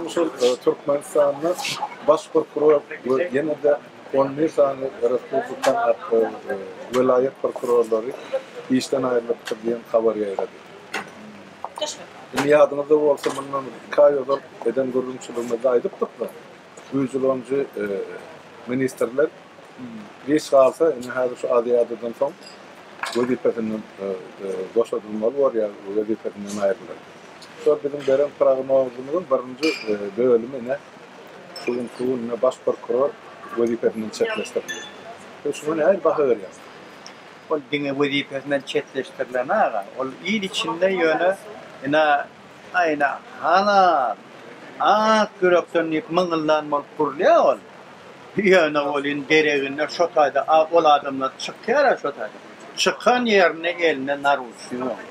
şol e, Türkmenistanda baş prokuror we ýene-de 11 sany respublikan e, welaýat prokurorlary işden aýrylypdyr diýen habar ýaýrady. Indi ýadyňyzda bolsa, mundan iki aý ozal eden gürrüňçiligimizde aýdypdykmy? Güýjüleniji ministrler giç galsa, indi häzir şu Aziadadan soň wezipesinden boşadylmaly bolýar, wezipesinden aýrylar. Şol biziň beren prognozymyzyň birinji bölümi ine şu gün şu gün ine baş prokuror wezipesinden çetleşdirildi. Siz şuňa nähili baha berýäňiz? Ol diňe wezipesinden çetleşdirilen aga. Ol il içinde ýöne ina Aýna, Halal! Ak ýürekden diýip myňyldan bolup gürlýä ol. Ýöne welin dereginde şo taýda ol adamlar çykýara şo taýda. Çykan ýerinde elinde naruçnik onuň.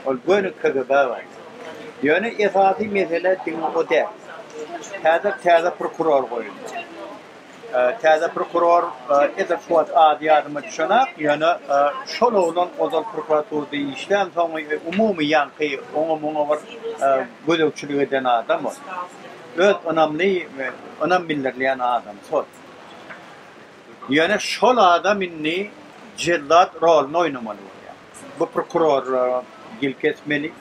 Ol göni KGB agajy. Ýöne esasy mesele diňe o däl. Häzir täze prokuror goýuldy. Täze prokuror edil şu wagt ady ýadyma düşenak, ýöne şol oglan ozal prokuraturada işlän, soň umumy ýaňky oňa-muňa bir gözegçilik eden adam ol. Öz ynamly, ynam bildirilýän adam şol. Ýöne şol adam indi jellat roluny oýnamaly bolýar. Bu prokurorlara ýelka etmeli.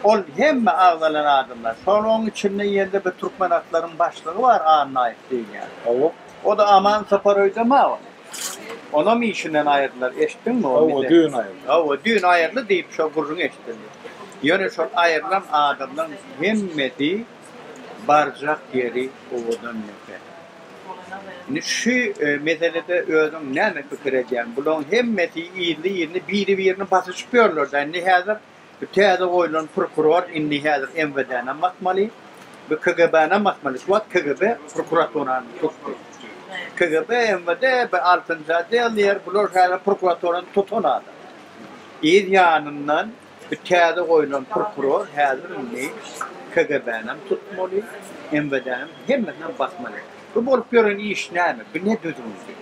Ol hemme agzalan adamlar. Şol oň içinde ýerde bir türkmenatlaryň başlygy bar Annaýew diýilýän. Hawa. O-da Aman Saparoýda ma ol. Onam işinden aýyrdylar. Eşitdiňmi? Hawa, düýn aýyrdy. Hawa, düýn aýyrdy diýip şo gürrüň eşidildi. Ýöne şol aýrylan adamlaryň hemmesi barjak ýeri owadan ýeke. Indi şu meselede özüň näme pikir edýäň? Bulaň hemmesi ýyly-ýyly biri-birini basyşyp ýörler-dä. Indi häzir bu täze goýlan prokuror indi häzir MWD-näm basmaly, bu KGB-näm basmaly. Şu wagt KGB prokuraturany tutdy. KGB, MWD, bu altynjy odel diýer, bular häzir prokuraturany tutan adam. Yz ýanyndan. Bu täze goýlan prokuror häzir indi KGB-nem tutmaly, MWD-nem, hemmesinem basmaly. Bu bolup ýören iş näme? Bu ne düzgündi?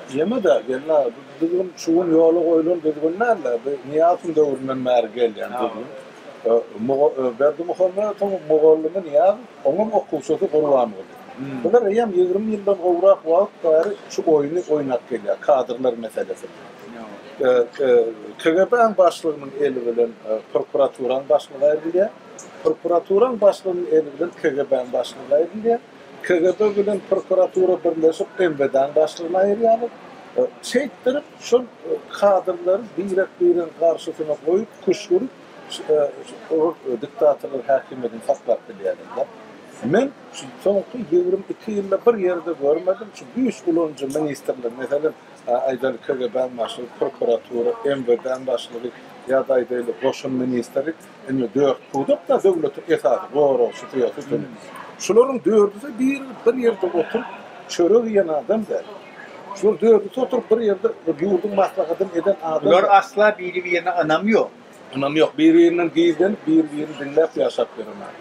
Diýemeda, gelin aga, bu düzgün şu gün ýola goýlan düzgün däl-de, bu Nyýazowyň döwründen bäri gelýän düzgün. Berdimuhamedowyň mugallymy Nyýazow, oňam okuwçysy Gurbanguly. Bular eýýäm ýigrimi ýyldan gowrak wagt bäri şu oýny oýnap gelýär, kadrlar meselesini. TGB-iň başlygynyň eli bilen prokuraturaň başlygy aýrylýar, prokuraturaň başlygynyň eli bilen KGB-iň başlygy aýrylýar, KGB bilen prokuratura birleşip MWD-iň başlygyny aýyrýarlar. Şeýtdirip, şol kadrlary birek-biregiň garşysyna goýup, küşgürip, ol diktatorlar häkimiýetini saklap bilýärler-de. Men şu soňky ýigrimi iki ýylda bir ýerde görmedim, şu güýç ulanyjy ministrler, meselem, Aýdaly, KGB-niň başlygy, prokuratura, MWD-niň başlygy ýa-da, aýdaýly, goşun ministri, indi dört pudak-da döwletiň esasy goragçysy ýa sütüni. Şularyň dördüsi bir bir ýerde oturyp çörek iýen adam däl. Şular dördüsi oturyp bir ýerde ýurduň maslahatyny eden adam däl. Bular asla biri-birine ynam ýok. Ynam ýok. Bir-birinden gizlenip, bir-birini diňläp ýaşap ýören adamlar.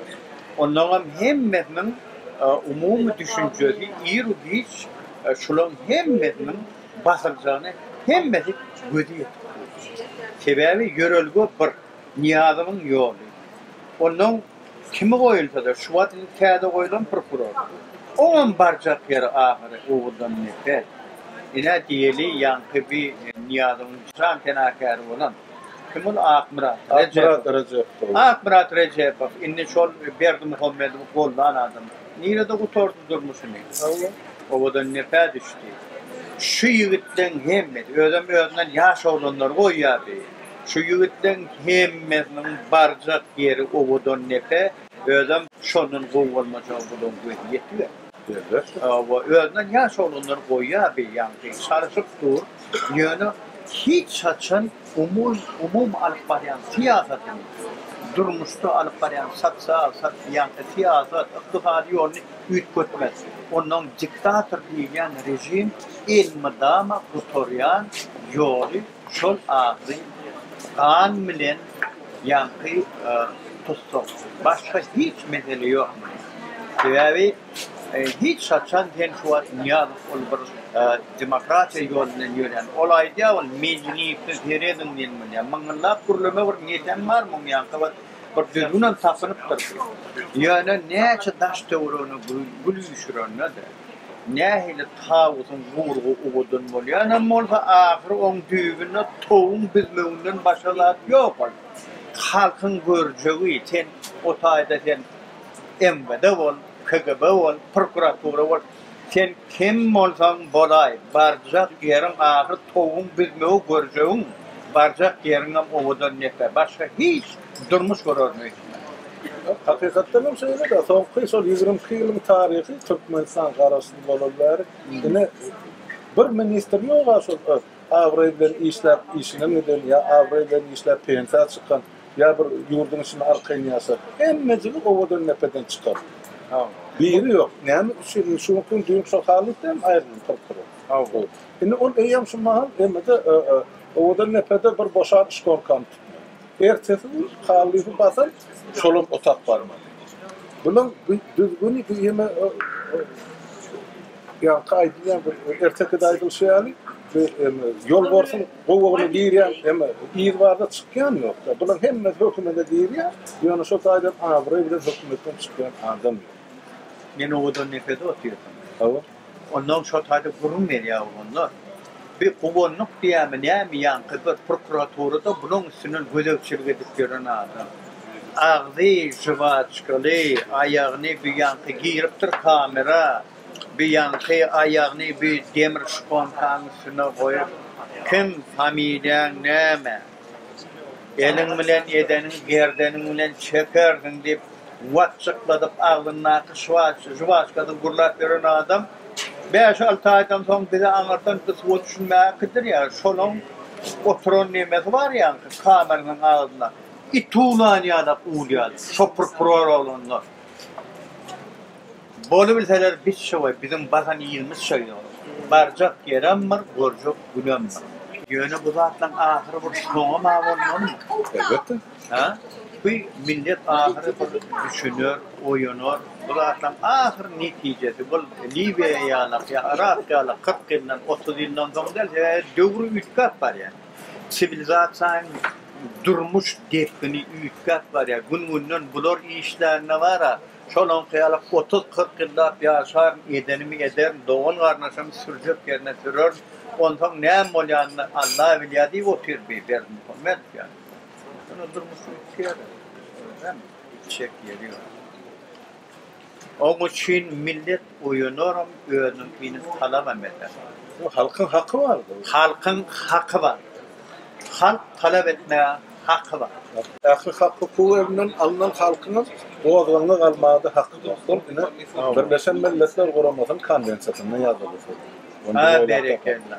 Olaryň hemmesiniň umumy düşünjesi ir-u-giç şularyň hemmesiniň basyljagyny hemmesi gözi ýetip durýar. Sebäbi ýörelge bir, Nyýazowyň ýoly. Onnoň kimi goýulsa-da, şu wagt indi täze goýlan prokuror. Oňam barjak ýeri ahyry Oguzdan nepes. Ine, diýeli, ýaňky bi Nyýazowyň jan penakäri bolan. Kim ol Akmyrat Rejepow? Akmyrat Rejepow indi şol Berdimuhamedowy gollan adam. Nirede gutardy durmuşyny? Owadan nepä düşdi. Şu ýigitleň hemmesi, özem özünden ýaş oglanlary goýýardy. Şu ýigitleň hemmesiniň barjak ýeri Owadan nepe, özem şondan gowy bolmajagy bularyň gözi ýetiber. Özbek we özünden ýaş oglanlar goýýar beýanky, çalşyp dur, ýöne hiç haçan umumy alyp barýan syýasatyny, durmuşda alyp barýan sosial, ýagny syýasat, ykdysady ýoluny üýtgetmez. Ondan diktator diýilýän režim elmydama gutarýan ýoly. Şol agzy gan bilen ýaňky tutsak, başga hiç mesele ýok munuň. Sebäbi hiç haçan sen şu wagt Nyýazow ol bir demokratiýa ýol bilen ýörýän. Ol aýdýar ol Medinewsde serediň diýen bolýar. Myňňyllap gürleme bir netem bar muň ýaňky bir bir düzgünem tapynypdyr. Ýöne näçe daş töweregine gül üýşürende-de. Nähili tawusyň gurgy ugudan bolýanam bolsa, ahyry oň düýbünde towuň büzmeginden başga zat ýok ol. Halkyň görjegi, sen o taýda sen MWD bol, KGB bol, prokuratura bol, sen kim bolsaň bolaý, barjak ýeriň ahyry towuň büzmegi, görjegiň, barjak ýeriňem ugudan nepe, başga hiç. durmuş görermi? Hakykatdan hem şeýle-de, soňky şol ýigrimi iki ýylyň taryhy Türkmenistan garaşsyz bolaly bäri, ine, bir ministr ýog-a şol öz abraýy bilen işläp işinden giden ýa abraýy bilen işläp pensiýa çykan ýa bir ýurduň içinde arkaýyn ýaşan. Hemmejigi owadan-depeden çykan. Biri ýok. Näme üçin indi şu günki gün düýn şo halypam aýrylyp turupdyr. Indi ol eýýäm şu mahal emme-de Owadandepede bir boşan şkolkany tutmaýar. Ertesi gün Kallyby basan şolam otap barmady. Bulam düzgüni bu ýene ýaňky aýdylýan bir ertekide aýdylşy ýaly bu ýolbarsyň gowagyna girýän emme yz barda çykýan ýokda. Bulam hemmesi hökümede girýär, ýöne şo taýdan abraý bilen hökümetden çykýan adam ýok. Men owadan nepede otyrdym. Hawa. Onnoň şo taýda gürrüň berýär oglanlar. Bir guwanlyk diýýärmi, näme, ýaňky bir prokuraturada bulaň üstünden gözegçilik edip ýören adam. Agzy žwaçkaly, aýagyny bu ýaňky giripdir kamera, bu ýaňky aýagyny bu demir şponkanyň üstüne goýup, Kim, familiýaň näme? Eliň bilen edeniň gerdeniň bilen çekersiň, diýip, watjykladyp, agzyndaky žuwaçkasyny gurlap ýören adam bäş-alty aýdan soň bize aňyrdan gysyba düşünmäge kidiriýär. Şolaň oturan nemesi bar ýaňky kameranyň agzynda. It uwlan ýa-da uwulýan, şopur-purur bolanda. Bolubilseler biz şowe biziň baran ýerimiz şo ýol. Barjak ýeremdir, görjek günemdir. Ýöne bu zatlaň ahyry bir soňam-a bolmalymy? Elbetde. Hä? Bu millet ahyry bir düşüner, oýanar. Bu zatlaň ahyry netijesi bul Liwiýa ýalak ýa Yrak ýalak kyrk ýyldan, otuz ýyldan soň däl, sebäbi döwür üýtgäp barýar. Siwilizasiýaň durmuş depgini üýtgäp barýar. Gün-günden bular işlände bar-a, Şonuňky ýaly otuz-kyrk ýyllap ýaşaryn, edenimi ederin, dogan-garyndaşymy sürjek ýerine sürerin, onsoň näme bolýanyny Alla bilýär diýip otyr bi Berdimuhamet. Ýa-ni, ýöne durmuşyň iki ýeri, özem içjek ýeri ýok. Oň üçin millet Oýanaram özüniň inim talabam eder. Bu halkyň haky bar bu. Halkyň haky bar. Halk talap etmegä haky bar. Ähli hak hukugy elinden alnan halkyňam gozgalaňa galmagada haky bar. Şol ine Birleşen Milletler Guramasynyň konwensiýasynda ýazyly şol. Onda oýlap tapar. Berekella.